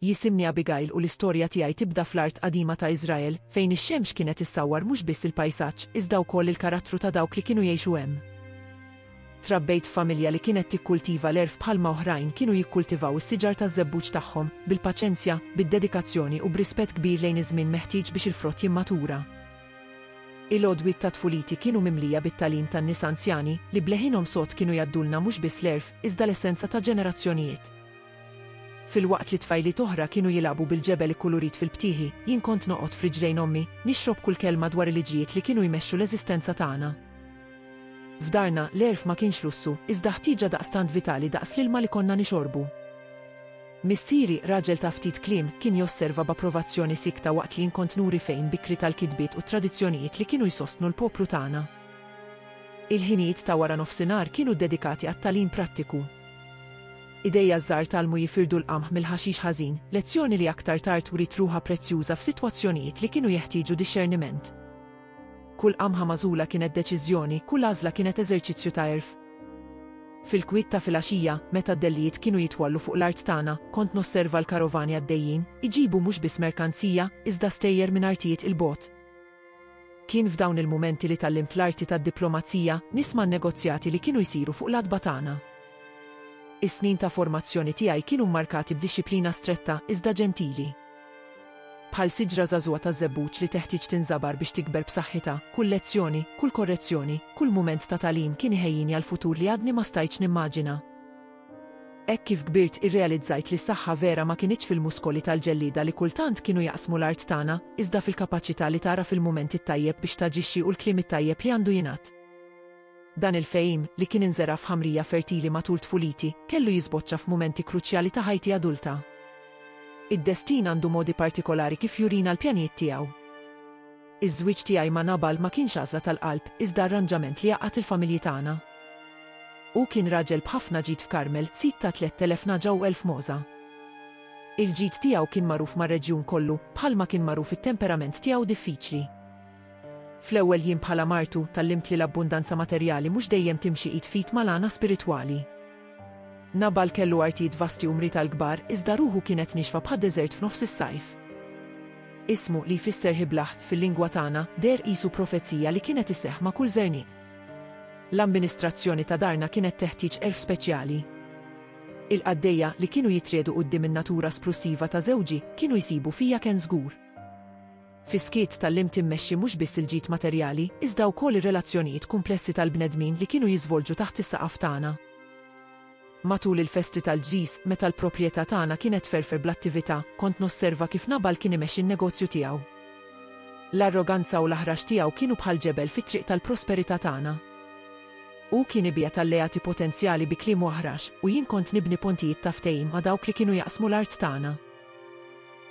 Jisimni Abigail u l-istorja tiegħi tibda fl-art qadima ta' Iżrael, fejn ix-xemx kienet issawwar mhux biss il-pajsaġġ, iżda wkoll il-karattru ta' dawk li kienu jgħixu hemm. Trabbejt f'familja li kienet tikkultiva l-għerf bħalma oħrajn kienu jikkultivaw is-siġar taż-żebbuġ tagħhom, bil-paċenzja, bid-dedikazzjoni u b'rispett kbir lejn iż-żmien meħtieġ biex il-frott jimmatura. Il-għodwiet ta' tfuliti kienu mimlija bit-tagħlim tan-nies anzjani, li b'leħinhom sod kienu jgħaddulna mhux biss l-għerf, iżda l-essenza ta' ġenerazzjonijiet. Filwaqt li tfajliet oħra kienu jilagħbu bil-ġebel ikkulurit fil-btieħi, jien kont noqgħod f'riġlejn ommi, nixrob kull kelma dwar il-iġrijiet li kienu jmexxu l-eżistenza tagħna. F'darna, l-għerf ma kienx lussu, iżda ħtieġa daqstant vitali daqs l-ilma li konna nixorbu. Missieri, raġel ta' ftit kliem, kien josserva b'approvazzjoni siekta waqt li jien kont nuri f'għin bikri tal-kitbiet u t-tradizzjonijiet li kienu jsostnu l-poplu tagħna. Il-ħinijiet ta' wara nofsinhar kienu ddedikati għat-tagħlim prattiku. Idejja żgħar tgħallmu jifirdu l-qamħ mill-ħaxix ħażin, lezzjoni li aktar tard wriet ruħha prezzjuża f'sitwazzjonijiet li kienu jeħtieġu dixxerniment. Kull qamħa magħżula kienet deċiżjoni, kull għażla kienet eżerċizzju ta' għerf. Fil-kwiet ta' filgħaxija, meta d-dellijiet kienu jitwallu fuq l-art tagħna, kont nosserva l-karovani għaddejjin, iġibu mhux biss merkanzija, iżda stejjer minn artijiet 'il bogħod. Kien f'dawn il-mumenti li tgħallimt l-arti tad-diplomazija, nisma' n-negozjati li kienu jsiru fuq l-għatba tagħna. Is-snin ta' formazzjoni tiegħi kienu mmarkati b'dixxiplina stretta, iżda ġentili. Bħal siġra żagħżugħa taż-żebbuġ li teħtieġ tinżabar biex tikber b'saħħitha, kull lezzjoni, kull korrezzjoni, kull mument ta' tagħlim kien iħejjini għall-futur li għadni ma stajtx nimmaġina. Hekk kif kbirt irrealizzajt li s-saħħa vera ma kinitx fil-muskoli tal-ġellieda li kultant kienu jaqsmu l-art tagħna, iżda fil-kapaċità li tagħraf il-mument it-tajjeb biex taġixxi u l-kliem it-tajjeb li għandu jingħad. Dan il-fehim, li kien inżera' f'ħamrija fertili matul tfuliti, kellu jiżboċċa f'mumenti kruċjali ta' ħajti adulta. Id-destin għandu modi partikolari kif jurina l-pjanijiet tiegħu. Iż-żwieġ tiegħi ma' Nabal ma kienx għażla tal-qalb, iżda arranġament li għaqqad il-familji tagħna. Hu kien raġel b'ħafna ġid f'Karmel, sid ta' tlett elef nagħġa u elf mogħża. Il-ġid tiegħu kien magħruf mar-reġjun kollu, bħalma kien magħruf it-temperament tiegħu diffiċli. Fl-ewwel jiem bħala martu, tgħallimt li l-abbundanza materjali mhux dejjem timxi id f'id mal-għana spiritwali. Nabal kellu artijiet vasti u mriet għall-kbar, iżda ruħu kienet niexfa bħad-deżert f'nofs is-sajf. Ismu, li jfisser ħiblaħ, fil-lingwa tagħna, deher qisu profezija li kienet isseħħ ma' kull żerniq. L-amministrazzjoni ta' darna kienet teħtieġ għerf speċjali. Il-qaddejja, li kienu jitriegħdu quddiem in-natura splussiva ta' żewġi, kienu jsibu fija kenż żgur. Fis-skiet tgħallimt immexxi mhux biss il-ġid materjali, iżda wkoll ir-relazzjonijiet kumplessi tal-bnedmin li kienu jiżvolġu taħt is-saqaf tagħna. Matul il-festi tal-ġżiż, meta l-proprjetà tagħna kienet tferfer bl-attività, kont nosserva kif Nabal kien imexxi n-negozju tiegħu. L-arroganza u l-aħrax tiegħu kienu bħal ġebel fit-triq tal-prosperità tagħna. Hu kien ibiegħed alleati potenzjali bi kliemu aħrax, u jien kont nibni pontijiet ta' ftehim ma' dawk li kienu jaqsmu l-art tagħna.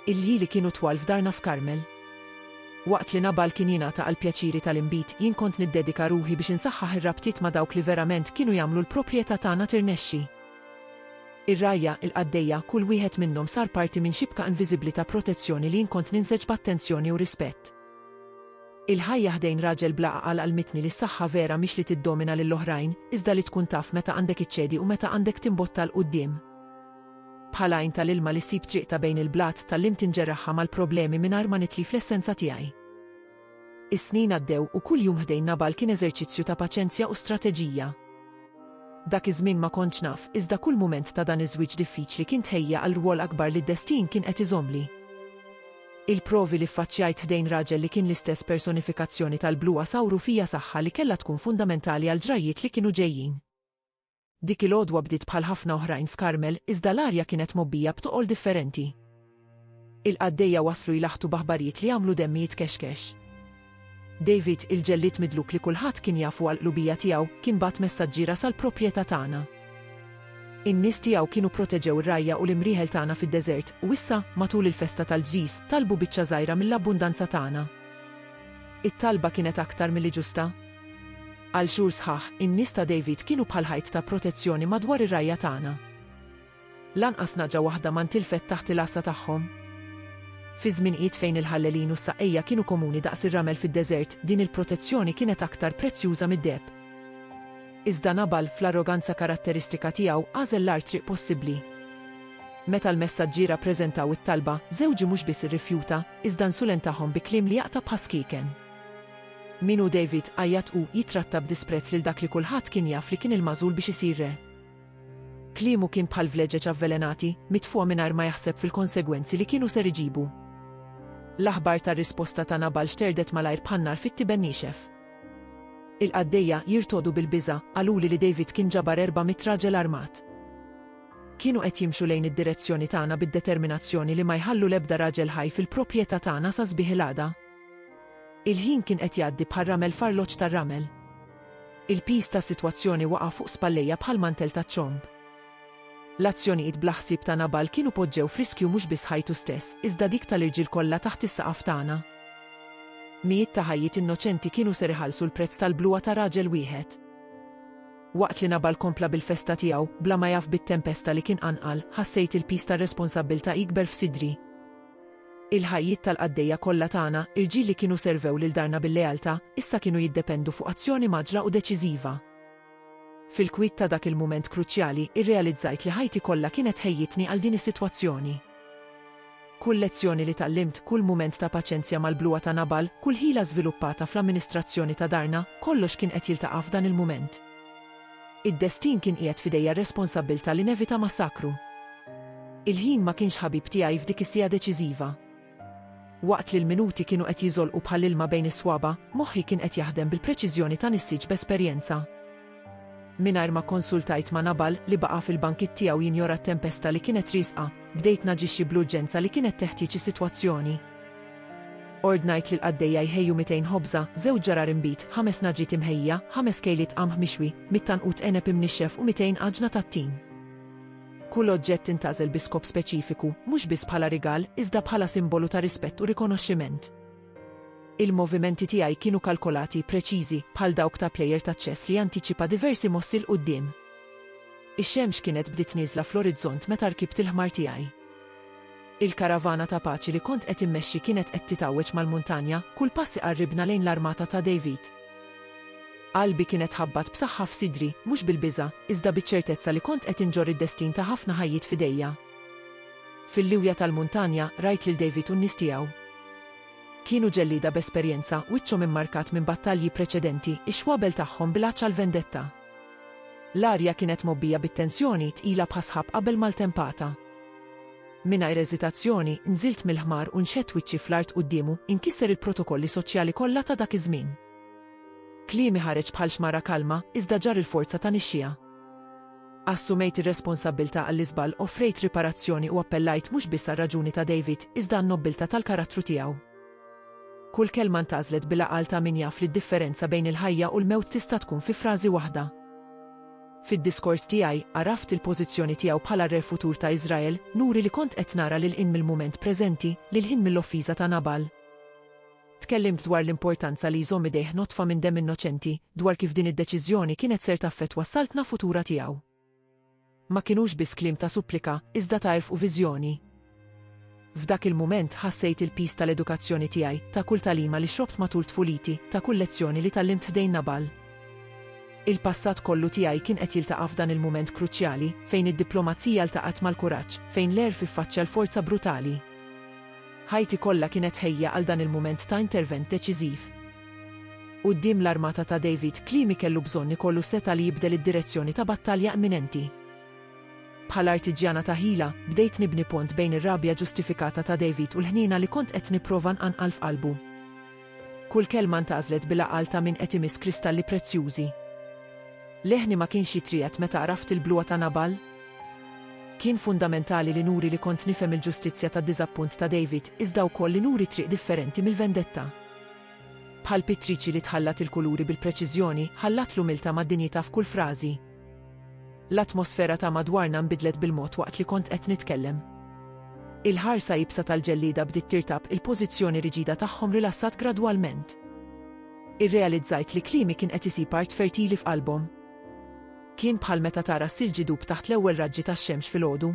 Il-ħili kienu twal f'darna f'Karmel. Waqt li Nabal kien jingħata għall-pjaċiri tal-inbid, jien kont niddedika ruħi biex insaħħaħ ir-rabtiet ma' dawk li verament kienu jagħmlu l-proprjetà tagħna tirnexxi. Ir-rgħajja, il-qaddejja, kull wieħed minnhom sar parti minn xibka inviżibbli ta' protezzjoni li jien kont ninseġ b'attenzjoni u rispett. Il-ħajja ħdejn raġel bla għaqal għallmitni li s-saħħa vera mhix li tiddomina lill-oħrajn, iżda li tkun taf meta għandek iċċedi u meta għandek timbotta 'l quddiem. Bħal għajn ta' l-ilma li ssib triqtha bejn il-blat, tgħallimt inġerraħha mal-problemi mingħajr ma nitlif l-essenza tiegħi. Is-snin għaddew u kull jum ħdejn Nabal kien eżerċizzju ta' paċenzja u strateġija. Dak iż-żmien ma kontx naf, iżda kull mument ta' dan iż-żwieġ diffiċli kien tħejja għal rwol akbar li d-destin kien qed iżommli. Il-provi li ffaċċjajt ħdejn raġel li kien l-istess personifikazzjoni tal-bluha sawru fija saħħa li kellha tkun fundamentali għall-ġrajjiet li kienu ġejjin. Dik il-għodwa bdiet bħal ħafna oħrajn f'Karmel iżda l-arja kienet mgħobbija b'toqol differenti. Il-qaddejja waslu jlaħħtu b'aħbarijiet li għamlu demmi jitkexkex. David, il-ġellied midluk li kulħadd kien jafu għall-qlubija tiegħu, kien bagħat messaġġiera sal-proprjetà tagħna. In-nies tiegħu kienu proteġew ir-rgħajja u l-imrieħel tagħna fid-deżert, u issa, matul il-festa tal-ġżiż, talbu biċċa żgħira mill-abbundanza tagħna. It-talba kienet aktar milli ġusta. Għal xhur sħaħ, in-nies ta' David kienu bħal ħajt ta' protezzjoni madwar ir-rgħajja tagħna. Lanqas naġa waħda ma ntilfet taħt il-għassa tagħhom. Fi żminijiet fejn il-ħallelin u s-saqqejja kienu komuni daqs ir-ramel fid-deżert, din il-protezzjoni kienet aktar prezzjuża mid-deheb. Iżda Nabal, fl-arroganza karatteristika tiegħu, għażel l-agħar triq possibbli. Meta l-messaġġiera ppreżentaw it-talba, żewġi mhux biss irrifjuta, iżda nsulentahom bi kliem li jaqta' bħas-skieken. Min hu David? għajjat hu, jittratta b'disprezz lil dak li kulħadd kien jaf li kien il-magħżul biex isir re. Kliemu kien bħal vleġeġ avvelenati, mitfugħa mingħajr ma jaħseb fil-konsegwenzi li kienu ser iġibu. L-aħbar tar-risposta ta' Nabal xterdet malajr bħal nar fit-tiben niexef. Il-qaddejja, jirtogħdu bil-biża', qaluli li David kien ġabar erba' mitt raġel armat. Kienu qed jimxu lejn id-direzzjoni tagħna bid-determinazzjoni li ma jħallu l-ebda raġel ħaj fil-proprjetà tagħna sa sbieħ il-għada. Il-ħin kien qed jgħaddi bħar-ramel f'arloġġ tar-ramel. Il-piż tas-sitwazzjoni waqa' fuq spallejja bħal mantel taċ-ċomb. L-azzjonijiet bla ħsieb ta' Nabal kienu poġġew f'riskju mhux biss ħajtu stess, iżda dik tal-irġiel kollha taħt is-saqaf tagħna. Mijiet ta' ħajjiet innoċenti kienu ser iħallsu l-prezz tal-bluha ta' raġel wieħed. Waqt li Nabal kompla bil-festa tiegħu, bla ma jaf bit-tempesta li kien qanqal, ħassejt il-piż tar-responsabbiltà jikber f'sidri. Il-ħajjiet tal-qaddejja kollha tagħna, irġiel li kienu servew lil darna bil-lealtà, issa kienu jiddependu fuq azzjoni mgħaġġla u deċiżiva. Fil-kwiet ta' dak il-mument kruċjali, irrealizzajt li ħajti kollha kienet tħejjitni għal din is-sitwazzjoni. Kull lezzjoni li tgħallimt, kull mument ta' paċenzja mal-bluha ta' Nabal, kull ħila żviluppata fl-amministrazzjoni ta' darna, kollox kien qed jiltaqa' f'dan il-mument. Id-destin kien qiegħed f'idejja r-responsabbiltà li nevita massakru. Il-ħin ma kienx ħabib tiegħi f'dik is-siegħa deċiżiva. Waqt li l-minuti kienu qed jiżolqu bħal ilma bejn is-swaba', moħħi kien qed jaħdem bil-preċiżjoni ta' nissieġ b'esperjenza. Mingħajr ma kkonsultajt ma' Nabal, li baqa' fil-bankitt tiegħu jinjora t-tempesta li kienet riesqa, bdejt naġixxi bl-urġenza li kienet teħtieġ is-sitwazzjoni. Ordnajt lill-qaddejja jħejju mitejn ħobża, żewġ ġarar inbid, ħames nagħġiet imħejjija, ħames kejliet qamħ mixwi, mitt għanqud għeneb imnixxef u mitejn għaġna tat-tin. Kull oġġett intgħażel bi skop speċifiku, mhux biss bħala rigal, iżda bħala simbolu ta' rispett u rikonoxximent. Il-movimenti tiegħi kienu kalkolati, preċiżi, bħal dawk ta' plejer taċ-ċess li jantiċipa diversi mossi 'l quddiem. Ix-xemx kienet bdiet nieżla fl-orizzont meta rkibt il-ħmar tiegħi. Il-karavana ta' paċi li kont qed immexxi kienet qed titgħawweġ mal-muntanja, kull pass iqarribna lejn l-armata ta' David. Qalbi kienet tħabbat b'saħħa f'sidri, mhux bil-biża', iżda biċ-ċertezza li kont qed inġorr id-destin ta' ħafna ħajjiet f'idejja. Fil-liwja tal-muntanja, rajt lil David u n-nies tiegħu. Kienu ġellieda b'esperjenza, wiċċhom immarkat minn battalji preċedenti, ix-xwabel tagħhom bil-għatx għall-vendetta. L-arja kienet mgħobbija bit-tensjoni tqila bħas-sħab qabel ma ltempata. Mingħajr eżitazzjoni, nżilt mill-ħmar u nxedt wiċċi fl-art quddiemu, inkisser il-protokolli soċjali kollha ta' dak iż-żmien. Kliemi ħareġ bħal xmara kalma, iżda ġarr il-forza ta' nixxiegħa. Assumejt ir-responsabbiltà għall-iżball, offrejt riparazzjoni u appellajt mhux biss għar-raġuni ta' David, iżda għan-nobbiltà tal-karattru tiegħu. Kull kelma ntgħażlet bil-għaqal ta' min jaf li d-differenza bejn il-ħajja u l-mewt tista' tkun fi frażi waħda. Fid-diskors tiegħi, għaraft il-pożizzjoni tiegħu bħala r-Re futur ta' Iżrael, nuri li kont qed nara lil hinn mill-mument preżenti, lil hinn mill-offiża ta' Nabal. Tkellimt dwar l-importanza li jżomm idejh nodfa minn demm innoċenti, dwar kif din id-deċiżjoni kienet ser taffettwa s-saltna futura tiegħu. Ma kinux biss kliem ta' supplika, iżda ta' għerf u viżjoni. F'dak il-mument ħassejt il-piż tal-edukazzjoni tiegħi, ta' kull tagħlima li xrobt matul tfuliti, ta' kull lezzjoni li tgħallimt ħdejn Nabal. Il-passat kollu tiegħi kien qed jiltaqa' f'dan il-mument kruċjali, fejn id-diplomazija ltaqgħet mal-kuraġġ, fejn l-għerf iffaċċja l-forza brutali. Ħajti kollha kienet tħejja għal dan il-mument ta' intervent deċiżiv. Quddiem l-armata ta' David, kliemi kellu bżonn ikollu setgħa li jibdel id-direzzjoni ta' battalja imminenti. Bħala artiġjana ta' ħila, bdejt nibni pont bejn ir-rabja ġustifikata ta' David u l-ħniena li kont qed nipprova nqanqal f'qalbu. Kull kelma ntgħażlet bil-għaqal ta' min qed imiss kristalli prezzjużi. Leħni ma kienx jitriegħed meta għraft il-bluha ta' Nabal? Kien fundamentali li nuri li kont nifhem il-ġustizzja tad-diżappunt ta' David, iżda wkoll li nuri triq differenti mill-vendetta. Bħal pittriċi li tħallat il-kuluri bil-preċiżjoni, ħallat l-umiltà mad-dinjità f'kull frażi. L-atmosfera ta' madwarna nbidlet bil-mod waqt li kont qed nitkellem. Il-ħarsa iebsa tal-ġellieda bdiet tirtab, il-pożizzjoni riġida tagħhom rilassat gradwalment. Irrealizzajt li kliemi kien qed isib art fertili f'qalbhom. Kien bħal meta tara s-silġ idub taħt l-ewwel raġġi tax-xemx filgħodu.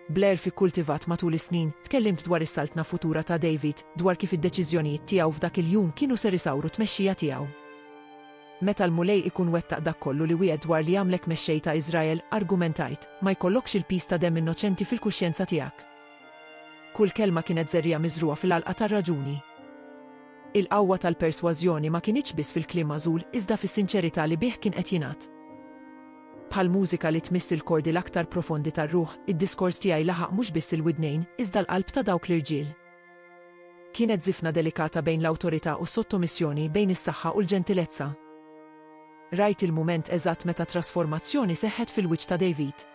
Blair f'Ikkultivat matul is-snin, tkellimt dwar is-saltna futura ta' David, dwar kif id-deċiżjonijiet tiegħu f'dak il-jum kienu ser isawru t-tmexxija tiegħu. Meta l-Mulej ikun wettaq dak kollu li wiegħed dwar li jagħmlek mexxej ta' Iżrael, argumentajt, ma jkollokx il-piż ta' demm innoċenti fil-kuxjenza tiegħek. Kull kelma kienet żerriegħa miżrugħa fil-għalqa tar-raġuni. Il-qawwa tal-persważjoni ma kinitx biss fil-kliem magħżul, iżda fis-sinċerità li bih kien qed jingħad. Bħal mużika li tmiss il-kordi l-aktar profondi tar-ruħ, id-diskors tiegħi laħaq mhux biss il-widnejn, iżda l-qalb ta' dawk l-irġiel. Kienet żifna delikata bejn l-awtorità u s-sottomissjoni, bejn is-saħħa u l-ġentilezza. Rajt il-mument eżatt meta trasformazzjoni seħħet fil-wiċċ ta' David.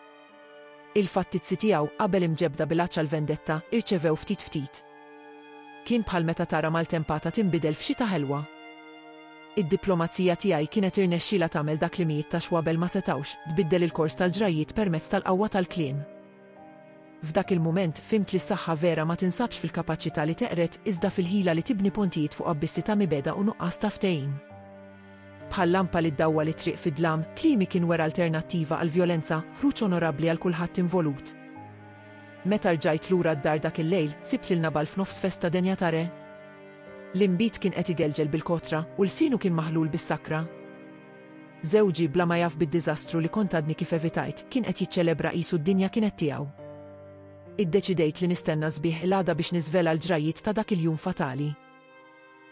Il-fattizzi tiegħu, qabel imġebbda bil-għatx għall-vendetta, irċevew ftit ftit. Kien bħal meta tara maltempata tinbidel f'xita ħelwa. Id-diplomazija tiegħi kienet irnexxielha tagħmel dak li mijiet ta' xwabel ma setgħux, tbiddel il-kors tal-ġrajjiet permezz tal-qawwa tal-kliem. F'dak il-mument, fhimt li s-saħħa vera ma tinsabx fil-kapaċità li teqred, iżda fil-ħila li tibni pontijiet fuq abbissi ta' mibegħda u nuqqas ta' ftehim. Bħal lampa li ddawwal it-triq fid-dlam, kliemi kien wera alternattiva għall-vjolenza, ħruġ onorabbli għal kulħadd involut. Meta rġajt lura d-dar dak il-lejl, sibt lil Nabal f'nofs festa denja ta' re. L-inbid kien qed igelgel bil-kotra, u lsienu kien maħlul bis-sakra. Żewġi, bla ma jaf bid-diżastru li kont għadni kif evitajt, kien qed jiċċelebra qisu d-dinja kienet tiegħu. Iddeċidejt li nistenna s-sbieħ il-għada biex niżvela l-ġrajjiet ta' dak il-jum fatali.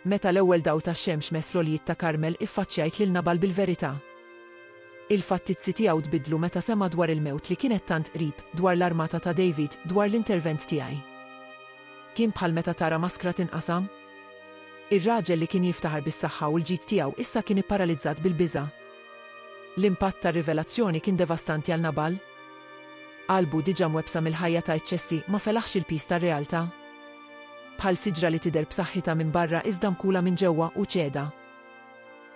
Meta l-ewwel dawl tax-xemx mess l-għoljiet ta' Karmel iffaċċjajt lil Nabal bil-verità. Il-fattizzi tiegħu tbiddlu meta sema' dwar il-mewt li kienet tant qrib, dwar l-armata ta' David, dwar l-intervent tiegħi. Kien bħal meta tara maskra tinqasam? Ir-raġel li kien jiftaħar bis-saħħa u l-ġid tiegħu issa kien ipparalizzat bil-biża'. L-impatt tar-rivelazzjoni kien devastanti għal Nabal. Qalbu diġà mwebbsa mill-ħajja ta' eċċessi ma felaħx il-piż tar-realtà. Bħal siġra li tidher b'saħħitha minn barra iżda mkula minn ġewwa u ċeda.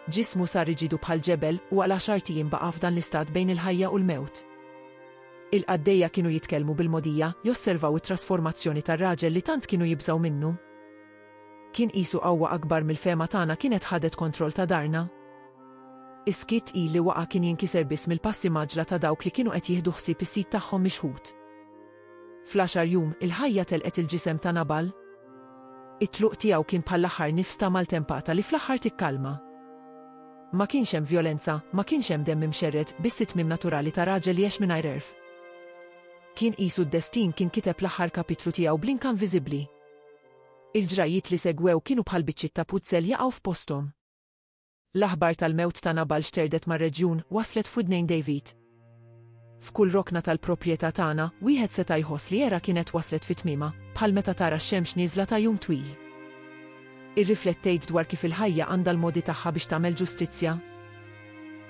Ġismu sar riġidu bħal ġebel u għal għaxart ijiem baqa' f'dan l-istat bejn il-ħajja u l-mewt. Il-qaddejja kienu jitkellmu bil-mogħdija, josservaw it-trasformazzjoni tar-raġel li tant kienu jibżgħu minnu. Kien qisu qawwa akbar mill-fehma tagħna kienet ħadet kontroll ta' darna. Is-skiet tqil li waqa' kien jinkiser biss mill-passi mgħaġġla ta' dawk li kienu qed jieħdu ħsieb is-sid tagħhom mixħut. Fl-għaxar jum, il-ħajja telqet il-ġisem ta' Nabal. It-tluq tiegħu kien bħall-aħħar nifs ta' maltempata li fl-aħħar tikkalma. Ma kienx hemm vjolenza, ma kienx hemm demm imxerred, biss it-tmiem naturali ta' raġel li għex mingħajr għerf. Kien qisu d-destin kien kiteb l-aħħar kapitlu tiegħu bl-inka inviżibbli. Il-ġrajjiet li segwew kienu bħal biċċiet ta' puzzel jaqgħu f'posthom. L-aħbar tal-mewt ta' Nabal xterdet mar-reġjun, waslet f'widnejn David. F'kull rokna tal-proprjetà tagħna, wieħed seta' jħoss li era kienet waslet fi tmiemha, bħal meta tara x-xemx nieżla ta' jum twil. Irriflettejt dwar kif il-ħajja għandha l-modi tagħha biex tagħmel ġustizzja?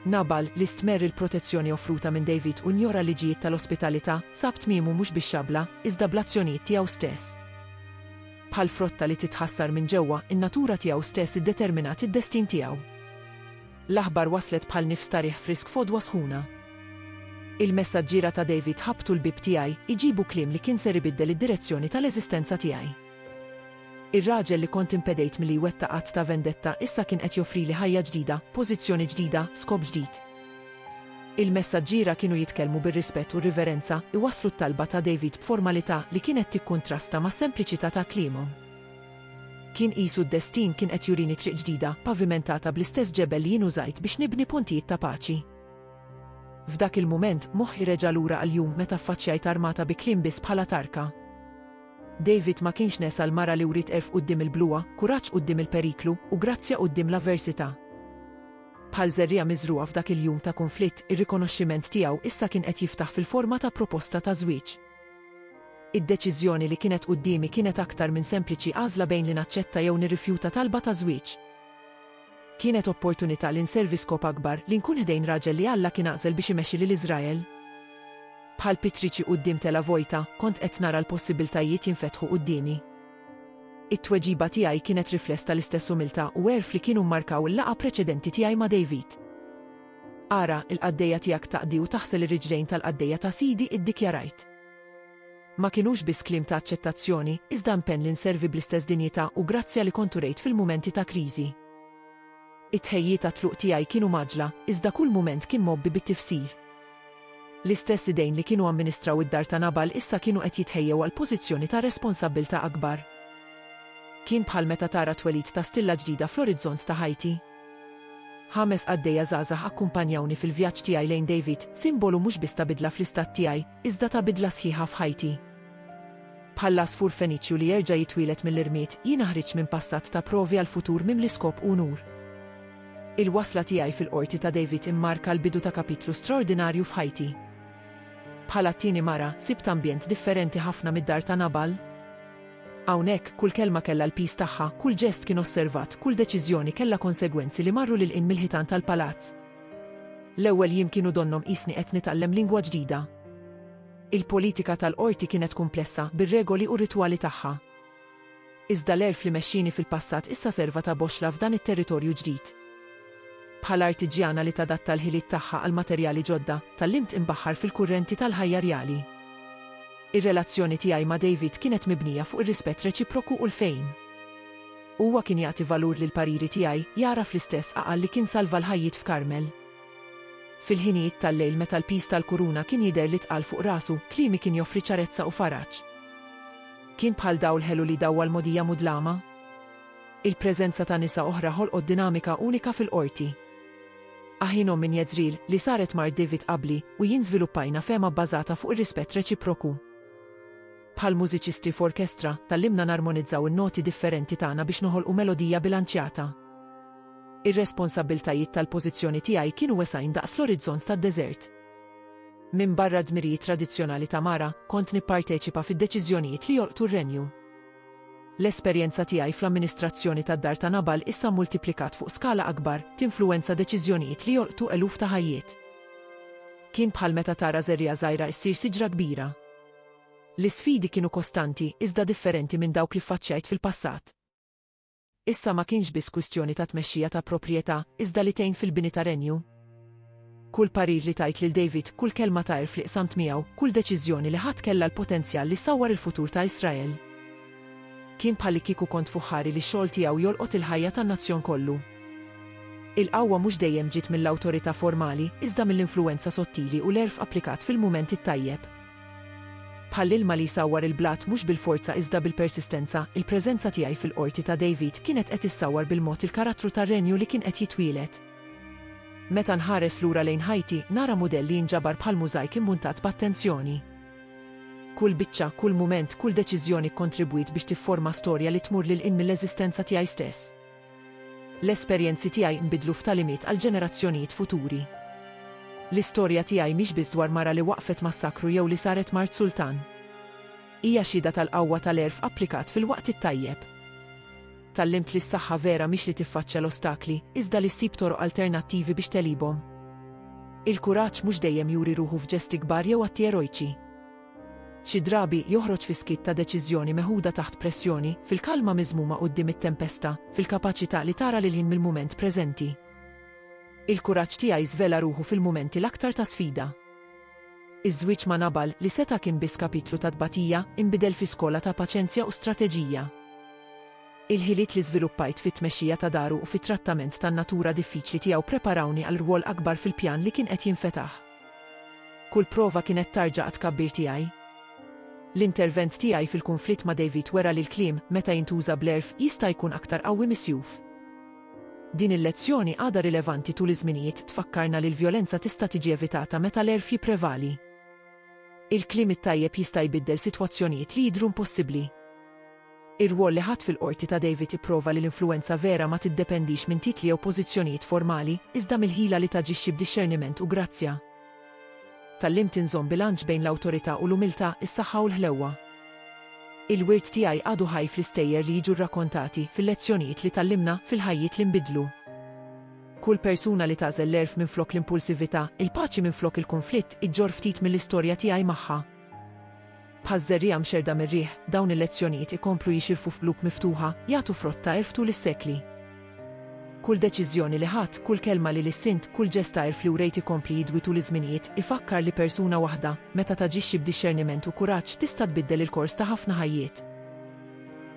Nabal, li stmerr il-protezzjoni offruta minn David u njora l-liġijiet tal-ospitalità, sab tmiemu mhux bix-xabla, iżda bl-azzjonijiet tiegħu stess. Bħal frotta li titħassar minn ġewwa, in-natura tiegħu stess iddeterminat id-destin tiegħu. L-aħbar waslet bħal nifs ta' riħ frisk f'għodwa sħuna. Il-messaġġiera ta' David ħabbtu l-bieb tiegħi, iġibu kliem li kien ser ibiddel id-direzzjoni tal-eżistenza tiegħi. Ir-raġel li kont impedejt milli jwettaq att ta' vendetta issa kien qed joffrili ħajja ġdida, pożizzjoni ġdida, skop ġdid. Il-messaġġiera kienu jitkellmu bir-rispett u r-riverenza, iwasslu t-talba ta' David b'formalità li kienet tikkuntrasta mas-sempliċità ta' kliemhom. Kien qisu d-destin kien qed jurini triq ġdida, pavimentata bl-istess ġebel li jien użajt biex nibni pontijiet ta' paċi. F'dak il-mument, moħħi reġa' lura għall-jum meta ffaċċjajt armata bi kliem biss bħala tarka. David ma kienx nesa l-mara li wriet għerf quddiem il-bluha, kuraġġ quddiem il-periklu, u grazzja quddiem l-avversità. Bħal żerriegħa miżrugħa f'dak il-jum ta' kunflitt, ir-rikonoxximent tiegħu issa kien qed jiftaħ fil-forma ta' proposta ta' żwieġ. Id-deċiżjoni li kienet quddiemi kienet aktar minn sempliċi għażla bejn li naċċetta jew nirrifjuta talba ta' żwieġ. Kienet opportunità li nservi skop akbar, li nkun ħdejn raġel li Alla kien għażel biex imexxi lil Iżrael. Bħal pittriċi quddiem telgħa vojta, kont qed nara l-possibbiltajiet jinfetħu quddiemi. It-tweġiba tiegħi kienet rifless tal-istess umiltà u għerf li kienu mmarkaw il-laqgħa preċedenti tiegħi ma' David. Ara, il-qaddejja tiegħek taqdi u taħsel ir-riġlejn tal-qaddejja ta' Sidi, iddikjarajt. Ma kinux biss kliem ta' aċċettazzjoni, iżda impenn li nservi bl-istess dinjità u grazzja li kont urejt fil-mumenti ta' kriżi. It-tħejjijiet għat-tluq tiegħi kienu mgħaġġla, iżda kull mument kien mgħobbi bit-tifsir. L-istess idejn li kienu amministraw id-dar ta' Nabal issa kienu qed jitħejjew għal pożizzjoni ta' responsabbiltà akbar. Kien bħal meta tara t-twelid ta' stilla ġdida fl-orizzont ta' ħajti. Ħames qaddejja żgħażagħ akkumpanjawni fil-vjaġġ tiegħi lejn David, simbolu mhux biss ta' bidla fl-istat tiegħi, Iżda ta bidla sħiħa f'ħajti. Bħall-għasfur Feniċju li jerġa' jitwieled mill-irmied, jiena ħriġt minn passat ta' provi għal futur mimli skop u unur. Il-wasla tiegħi fil-Qorti ta' David immarka l-bidu ta' kapitlu straordinarju f'ħajti. Bħala t-tieni mara, sibt ambjent differenti ħafna mid-dar ta' Nabal. Hawnhekk, kull kelma kellha l-piż tagħha, kull ġest kien osservat, kull deċiżjoni kellha konsegwenzi li marru lil hinn mill-ħitan tal-palazz. L-ewwel jiem kienu donnhom qisni qed nitgħallem lingwa ġdida. Il-politika tal-qorti kienet kumplessa bir-regoli u r-ritwali tagħha. Iżda l-għerf li mexxieni fil-passat issa serva ta' boxxla f'dan it-territorju ġdid. Bħala artiġjana li tadatta l-ħiliet tagħha għal materjali ġodda, tgħallimt inbaħħar fil-kurrenti tal-ħajja rjali. Ir-relazzjoni tiegħi ma' David kienet mibnija fuq ir-rispett reċiproku u l-fehim. Huwa kien jagħti valur lill-pariri tiegħi, jagħraf l-istess għaqal li kien salva l-ħajjiet f'Karmel. Fil-ħinijiet tal-lejl meta l-piż tal-kuruna kien jidher li tqal fuq rasu, kliemi kien joffri ċarezza u faraġ. Kien bħal dawl ħelu li jdawwa l-mogħdija mudlama. Il-preżenza ta' nisa oħra ħolqot dinamika unika fil-qorti. Aħinhom minn Jezreel, li saret mart David qabli, u jien żviluppajna fehma bbażata fuq ir-rispett reċiproku. Bħal mużiċisti f'orkestra, tgħallimna narmonizzaw in-noti differenti tagħna biex noħolqu melodija bilanċjata. Ir-responsabbiltajiet tal-pożizzjoni tiegħi kienu wesgħin daqs l-orizzont tad-deżert. Minbarra d-dmirijiet tradizzjonali ta' mara, kont nipparteċipa fid-deċiżjonijiet li jolqtu r-renju. L-esperjenza tiegħi fl-amministrazzjoni tad-dar ta' Nabal issa mmultiplikat fuq skala akbar, tinfluwenza deċiżjonijiet li jolqtu eluf ta' ħajjiet. Kien bħal meta tara żerriegħa żgħira issir siġra kbira. L-isfidi kienu kostanti iżda differenti minn dawk li ffaċċjajt fil-passat. Issa ma kienx biss kwistjoni ta' tmexxija ta' proprjetà, iżda li tgħin fil-bini ta' renju. Kull parir li tajt lil David, kull kelma ta' għerf li qsamt miegħu, kull deċiżjoni li ħadt kellha l-potenzjal li ssawwar il-futur ta' Israel. Kien bħallikieku kont fuq ħari li x-xogħol tiegħu jolqot il-ħajja tan-nazzjon kollu. Il-qawwa mhux dejjem ġiet mill-awtorità formali, iżda mill-influwenza sottili u l-għerf applikat fil-mument it-tajjeb. Bħall-ilma li jsawwar il-blat mhux bil-forza iżda bil-persistenza, il-preżenza tiegħi fil-qorti ta' David kienet qed issawwar bil-mod il-karattru tar-Renju li kien qed jitwieled. Meta nħares lura lejn ħajti, nara mudell li jinġabar bħal mużajk immuntat b'attenzjoni. Kull biċċa, kull mument, kull deċiżjoni kkontribwiet biex tifforma storja li tmur lil hinn mill-eżistenza tiegħi stess. L-esperjenzi tiegħi nbidlu f'tagħlimiet għal ġenerazzjonijiet futuri. L-istorja tiegħi mhix biss dwar mara li waqqfet massakru jew li saret mart sultan. Hija xhieda tal-qawwa tal-għerf applikat fil-waqt it-tajjeb. Tgħallimt li s-saħħa vera mhix li tiffaċċja l-ostakli, iżda li ssib toroq alternattivi biex tegħlibhom. Il-kuraġġ mhux dejjem juri ruħu f'ġesti kbar jew atti erojċi. Xi drabi, joħroġ fiskiet ta' deċiżjoni meħuda taħt pressjoni, fil-kalma miżmuma quddiem it-tempesta, fil-kapaċità li tara lil-hinn mill-mument preżenti. Il-kuraġġ tiegħi żvela ruħu fil-mumenti l-aktar ta' sfida. Iż-żwieġ ma' Nabal, li seta' kien biss kapitlu ta' tbatija, inbidel fi skola ta' paċenzja u strateġija. Il-ħiliet li żviluppajt fit-tmexxija ta' daru u fit-trattament tan-natura diffiċli tiegħu ppreparawni għal rwol akbar fil-pjan li kien qed jinfetaħ. Kull prova kienet tarġa għat-tkabbir tiegħi. L-intervent tiegħi fil-kunflitt ma' David wera li l-kliem, meta jintuża bl-għerf, jista' jkun aktar qawwi mis-sjuf. Din il-lezzjoni għadha rilevanti tul iż-żminijiet tfakkarna li l-vjolenza tista' tiġi evitata meta l-għerf jipprevali. Il-kliem it-tajjeb jista' jbiddel sitwazzjonijiet li jidhru impossibbli. Ir-rwol li ħadt fil-Qorti ta' David ipprova li l-influwenza vera ma tiddependix minn titli jew pożizzjonijiet formali, iżda mill-ħila li taġixxi b'dixxerniment u grazzja. Tgħallimt inżomm bilanċ bejn l-awtorità u l-umiltà, is-saħħa u l-ħlewwa. Il-wirt tiegħi għadu ħaj fl-istejjer li jiġu rrakkontati, fil-lezzjonijiet li tgħallimna, fil-ħajjiet li nbiddlu. Kull persuna li tagħżel l-għerf minflok l-impulsività, il-paċi minflok il-kunflitt, iġġorr ftit mill-istorja tiegħi magħha. Bħal żerriegħa mxerrda mir-riħ, dawn il-lezzjonijiet ikomplu jixirfu f'qlub miftuħa, jagħtu frott ta' għerf tul is-sekli. Kull deċiżjoni li ħadt, kull kelma li lissint, kull ġest ta' għerf li wrejt ikompli jidwi tul iż-żminijiet, ifakkar li persuna waħda, meta taġixxi b'dixxerniment u kuraġġ, tista' tbiddel il-kors ta' ħafna ħajjiet.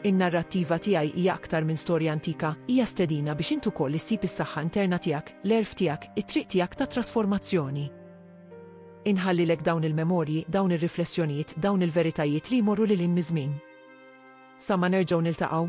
In-narrattiva tiegħi hija aktar minn storja antika, hija stedina biex int ukoll issib is-saħħa interna tiegħek, l-għerf tiegħek, it-triq tiegħek ta' trasformazzjoni. Inħallilek dawn il-memorji, dawn ir-riflessjonijiet, dawn il-veritajiet li jmorru lil hinn miż-żmien. Sa ma nerġgħu niltaqgħu.